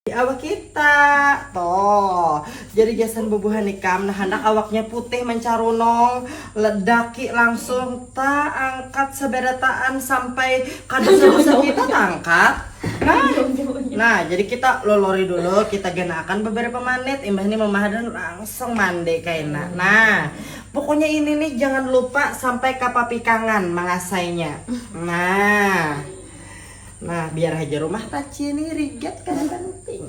Di awak kita. To. Jadi gasan bubuhan ikam nah handak awaknya putih mencarunong, daki langsung ta angkat seberataan sampai ka dosa-dosa kita ta angkat. Nah, nah jadi kita lolori dulu, kita ganaakan beberapa menit, imbah ini mama hadan langsung mandi kaina. Nah, pokoknya ini nih jangan lupa sampai ka papikangan mangasainya. Nah. Nah, biar haja rumah taci ini rigat kan penting.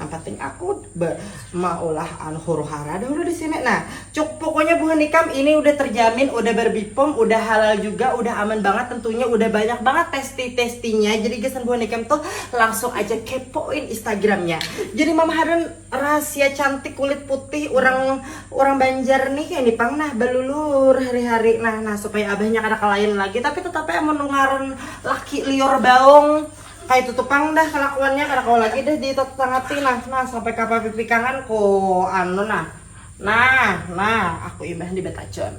Yang penting aku be, maulah anu huru hara dahulu di sini. Nah, cuk pokoknya buhan nikam ini udah terjamin, udah berbipom, udah halal juga, udah aman banget tentunya, udah banyak banget testi-testinya. Jadi gesan buhan nikam tuh langsung aja kepoin Instagramnya. Jadi Mama Harun Rahasia cantik kulit putih urang urang banjar nih ini pang nah balulur hari hari nah nah supaya abahnya kada kalain lagi tapi tetap ai amun ngaran laki liur baung kaitu tu pang dah kalakuannya kada kawa lagi dah di tatangati nah nah sampai ka papipikangan ku anu nah nah nah aku imbah ni batajon.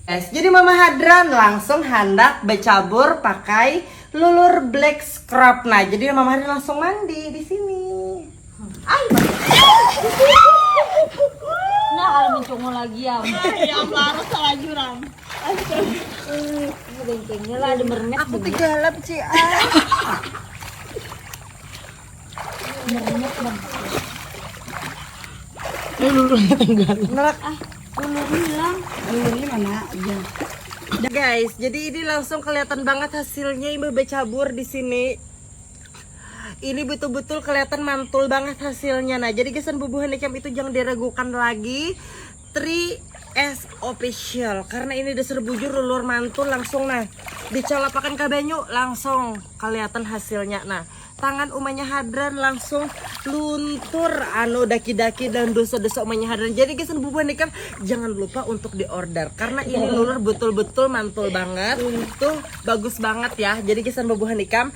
Es jadi mama hadran langsung handak bacabur pakai lulur black scrub nah jadi mama hadran langsung mandi disini. guys jadi ini langsung kelihatan banget hasilnya imbah becabur di sini ini betul-betul kelihatan mantul banget hasilnya nah jadi gesan bubuhan cam itu jangan diragukan lagi tri S official karena ini dasar bujur lulur mantul langsung nah dicalapakan ke banyu langsung kelihatan hasilnya nah tangan umanya hadran langsung luntur anu daki-daki dan dosa-dosa umanya hadran jadi gesan bubuhan cam jangan lupa untuk diorder karena ini lulur betul-betul mantul banget tuh bagus banget ya jadi gesan bubuhan cam